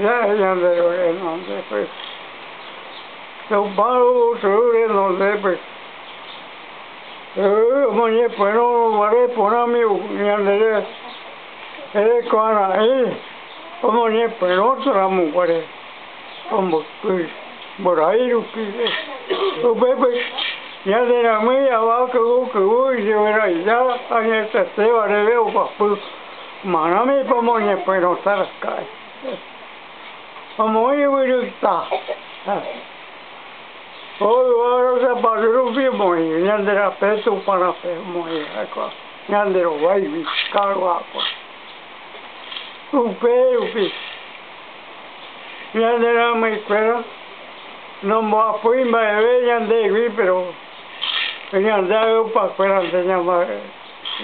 Ñande renondépe, Tupã yvytu renondépe, omoñepyrũ guare porãmi ñandéve, erekoara'ỹ omoñepyrũtaramo guare omboty mborái rupi, upépe ñande rãmí avakyvy kyvy ijeveraiha añetetéva reve oguapy. Ma'ãme ko moñepuerõta raka'e omoĩ yvyryta ha ko yvága sapatu rupi omoĩ ñande rape Tupã rape omoĩ ha'ekuéra ñande rováigui karu'ákuéra upérupi ñande rãmyikuéra nomboapýi mba'eve ñandégui péro ñande ayupakuérante ñamba'e.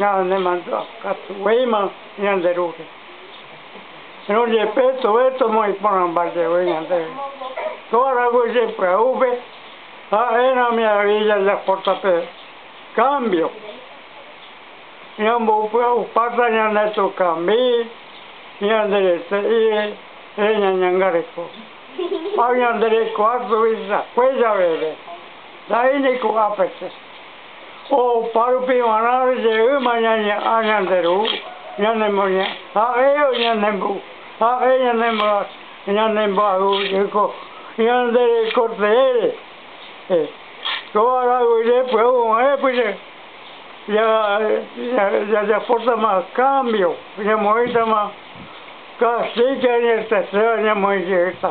Ñanemandukatuvéima ñande Rúpe, péro jepe tuve tomoĩporãmba jevy ñandéve ko araguyje pya'úpe, ha'erãme avei jajapóta pe kámbio. Ñamboupya'upáta ñane tũkambi, ñande rete'i reñañangareko ha ñande rekuaa tuvichakue javeve, nda'éi ni ko'ápe che. Opa rupi g̃uarã jeýma ñañe'ã ñande Ru, ñanemoñe'ẽ ha'e ñanembo'u, ha'e ñanemboayhúko ñande reko teére. Kóva araguire py'agu oĩvape jajapótama kámbio, ñamoĩtama kastíga iñerteséva ñamoĩ jeyta.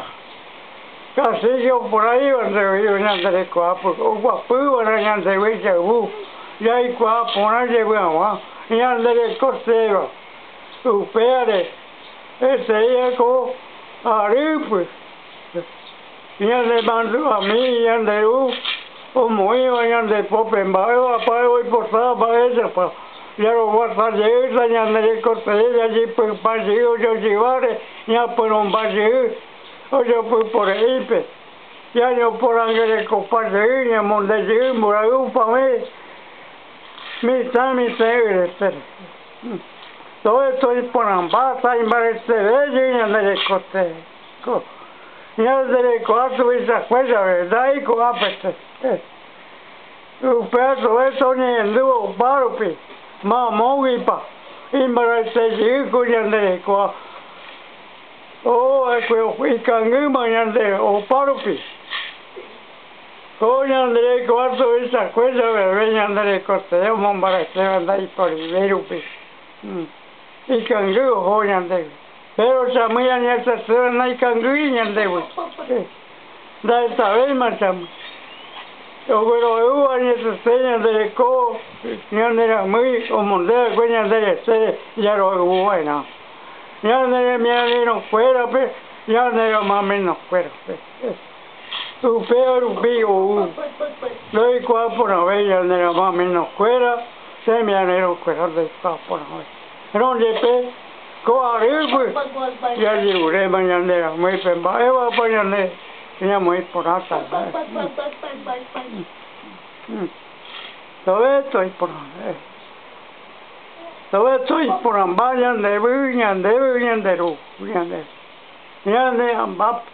Castillo opuraíva ndevývo ñande rekohápe oguapývare ñandegui jayvu jaikuaa porã jevy hag̃ua ñande reko tréva. Upévare peteĩ ko arýpe ñanemandu'ami ñande Ru omoĩva ñande pópe mba'évapa oipotáva mba'éichapa jaroguata jeýta ñande reko tee jajypypa jey ojojyváre ñapyrõmba jey. ojapypore'ỹipe, jajoporãngerekopa jey ñamonde jey mborayhu opavẽ mitã mitẽ'ỹretére. Tóre toiporãmba taimbareteve jey ñande rekotevẽko. Ñanderekoha tuvicakue jave, nda'éi ko'ápe tee. Upéva tóre toñehendúvo opa rupi, mamóguipa imbaraitéjey ko ñanderekoha. Oho'akue ikangýma ñande opárupi, ko ñande kuarto oichakue javeve ñande rekotee omombaretéva ndaiporive rupi, ikangy oho ñandégui, péro chamýi añachaséva naikangýi ñandégui, ndahetavéima chamýi, oguerohayhúva añachase ñande reko ñaneramýi omondéva'ekue ñande retére jarohayhuva'erã. ñane remiarirõkuérape ñane romamenokuérape. Upéva rupi ou ndoikuaa porãve ñane romamenokuéra remiarirõkuéra ndoikuaa porãve. Rõ jepe, ko arýgui jajeruréma ñande ramóipe mba'évapa ñande ñamoĩ porãta mba'e. Tove toiporãve. Lorenzo iporãmba ñandevy ñandéve ñande Ru ñande ñane ambápe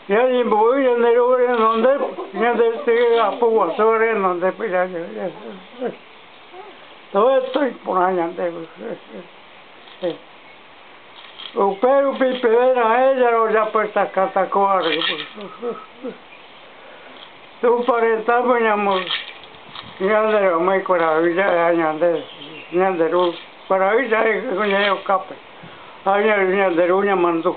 ñañembo'y ñande Ru renondépe ñande Ty apo guasu renondépe Lorenzo iporã ñandevy Upérupi peẽ ra'e jarojapytakata ko arýpe. Túpa retãme ñande reomái kuarahy ja'eha ñande, ñande Ru kuarahy ja'e ñe'ẽ okápe ha ñande Ru ñamandu.